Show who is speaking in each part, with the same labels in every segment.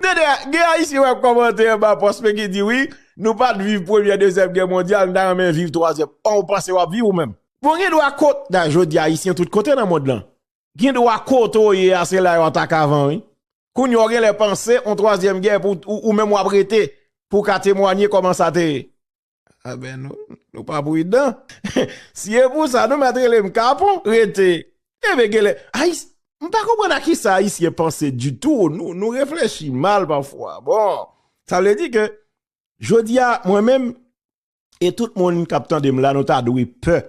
Speaker 1: Tande a, gen Ayisyen wap kòmante anba pòs mwen ki di wi, nou pat viv premyè dezyèm gè mondyal, nou ta renmen viv twazyèm. An ou panse wap viv ou menm? Bon gen dwa kot, da jodi Ayisyen tout kote nan mond lan. Gen dwa kote w ye a se la yo atake avan wi. Kounye a w genlè panse yon twazyèm gè pou ou menm wap rete pou w ka temwanye kòman sa te ye. A ben nou, nou pa pridan. Si e pou sa nou met rele m kapon, rete. E be gele, ayis, m pa konpran a ki sa ayisyen panse di tou, nou reflechi mal pa fwa. Bon, sa vle di ke, jodi a, mwen menm, e tout moun kap tande m la nou ta dwe pe,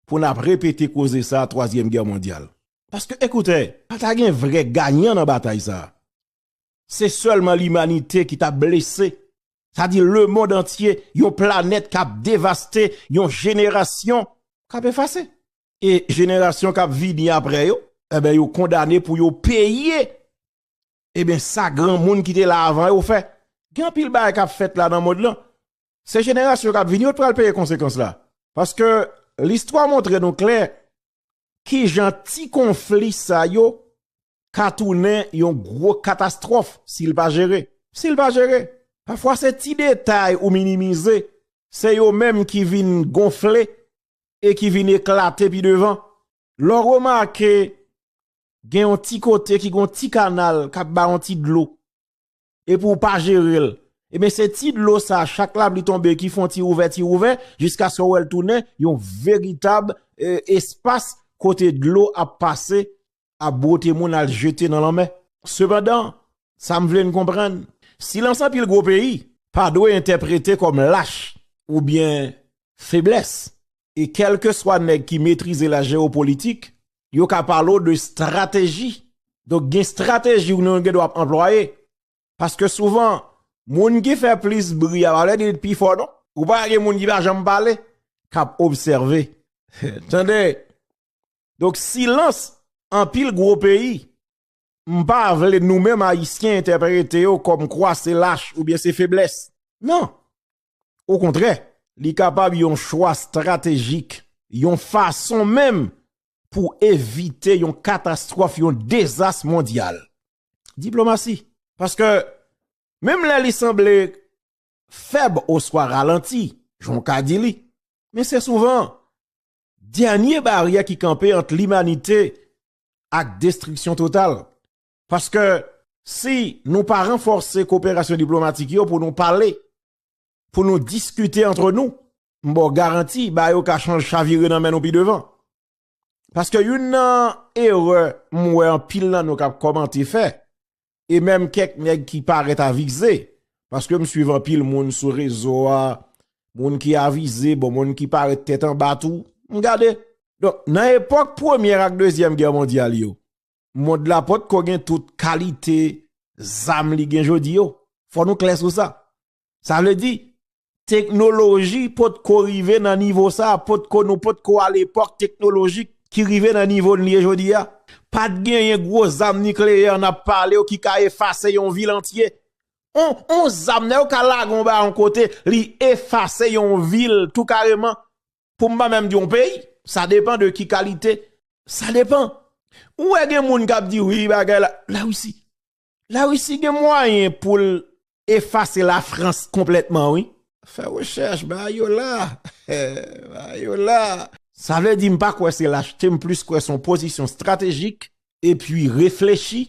Speaker 1: pou nap repete koze sa a 3 zièm gè mondial. Paske ekoute, pa ta gen vre ganyan nan batay sa a. Se sèlman limanite ki ta blese, sa di lemond antye, yon planèt kap devaste, yon jenerasyon kap efase. E jenerasyon kap vini apre yo, eben yo kondane pou yo peye, eben sa granmoun ki te la avan yo fè. Gen anpil bagay kap fèt la nan mond lan, se jenerasyon kap vini yo t pral peye konsekans la. Paske listwa montre nou klè, kijan ti konfli sa yo ka tounen yon gwo katastwòf si l pa jere. Si l pa jere. Pafwa se ti detay ou minimize, se yo menm ki vin gonfle e ki vin eklate pi devan. Lè w remake gen yon ti kote ki gen yon ti kanal k ap bay yon ti dlo, epi ou pa jere l, ebyen se ti dlo sa chak lapli tonbe ki fon ti ouvè ti ouvè jiskaske ou wè l tounen yon veritab espas kote dlo ap pase ap bwote moun al jete nan lanmè. Sepandan, sa m vle n konprann, silans anpil gwo peyi pa dwe entèprete kòm lach oubyen feblès e kèlkeswa nèg ki metrize la jewopolitik, yo ka pale w de strateji. Donk gen strateji ou nou gen dwa ap anplwaye. Paske souvan, moun ki fè plis bri a pa vle di li t pi fò non. Ou pa gen moun ki pa janm pale, k ap obsève. Tande! Donk silans anpil gwo peyi, m pa vle nou menm Ayisyen entèprete yo kòmkwa se lach oubyen se feblès. Non! Okontrè, li kapab yon chwa estratejik, yon fason menm pou evite yon katastwòf, yon dezas mondyal. Diplomasi. Paske, menm lè li sanble fèb oswa ralanti, jan w ka di li, men se souvan dènye baryè ki kanpe ant limanite ak destriksyon total. Paske si nou pa ranfòse koperasyon diplomatik yo pou nou pale, pou nou diskite antre nou, m ba w garanti ba yo ka chavire nan men nou pi devan. Paske youn nan erè m wè anpil nan nou k ap kòmante fè, e menm kèk nèg ki parèt avize, paske m swiv anpil moun sou rezo a, moun ki avize, bon moun ki parèt tèt anba tou, m gade. Donk nan epòk premyè ak dezyèm gè mondyal yo, mond la pot ko gen tout kalite zam li gen jodi yo. Fò nou klè sou sa. Sa vle di, teknoloji pot ko rive nan nivo sa, pot ko nou pot ko al epòk teknoloji ki rive nan nivo li ye jodi a. Pat genyen gwo zam nikleyè n ap pale yo ki ka efase yon vil antye. On zam nan yo ka lage yon bagay yon kote, li efase yon vil tou kareman. Pou m pa menm di yon peyi, sa depan de ki kalite, sa depan. Ou wè gen moun kap di wi bagay la, la Russie. La Russie gen mwayen pou l efase la France konplètman wi. Fè rechèch, ba yo la, ba yo la. Sa vle di m pa kwè se lachte, m plis kwè son pozisyon stratejik epi reflechi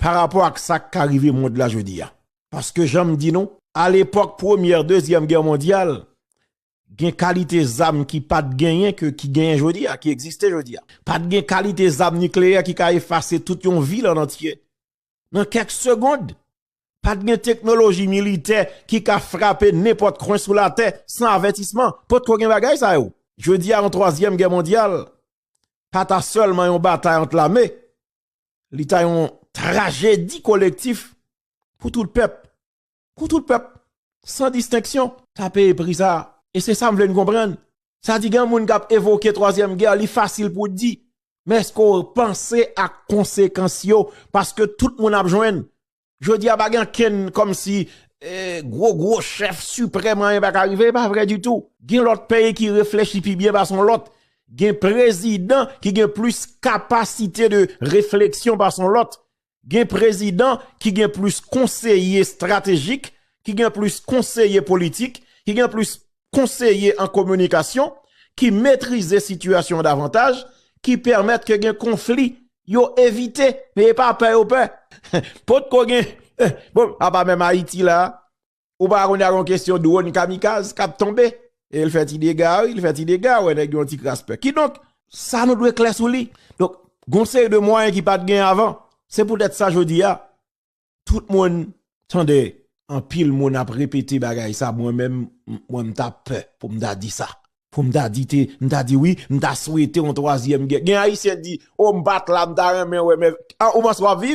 Speaker 1: pa rapò ak sa k ka rive mond la jodi a. Paske jan m di nou, a lepòk premyè, dezyèm gè mondyal, Gen kalite zam ki pat genyen ke ki genyen jodi a, ki egziste jodi a. Pat gen kalite zam nikleyè ki ka efase tout yon vil an antye nan kèk segond. Pat gen teknoloji militè ki ka frape nenpòt kwen sou latè san avètisman. Potko gen bagay sa yo. Jodi a yon twazyèm gè mondyal pa ta sèlman yon batay ant lame, li ta yon trajedi kolektif pou tout pèp. pou tout pèp san distenksyon ta peye pri sa a. E se sa m vle n konprann. Sa di gen moun k ap evoke twazyèm gè, li fasil pou di, men èske w panse ak konsekans yo paske tout moun ap jwenn. Jodi a pa gen ankenn kòmsi gwo gwo chèf siprèm anyen pa ka rive, e pa vre ditou. Gen lòt peyi ki reflechi pi byen pase yon lòt, gen prezidan ki gen plis kapasite de refleksyon pase yon lòt, Gen prezidan ki gen plis konseye estratejik, ki gen plis konseye politik, ki gen plis konseye an kominikasyon, ki metrize sitiyasyon davantaj, ki pèmèt ke gen konfli, yo evite, men yo pa pè yo pè. Pot ko gen, bon, apa menm Ayiti la, Ou pa konn ya gon kesyon drone kamikaz kap tonbe e l fè ti dega wi, l fè ti dega wè nèg yo yon ti kras pè. Kidonk, sa nou dwe klè sou li. Donk, gon seri de mwayen ki pat gen avan. Se poutèt sa jodi a, tout moun tande anpil moun ap repete bagay sa mwen menm mwen m ta pè pou m ta di sa. Pou m ta di te, m ta di wi, m ta swete yon twazyèm gè. Gen ayisyen di, o m pat la m ta renmen wè men, an ou panse wap viv?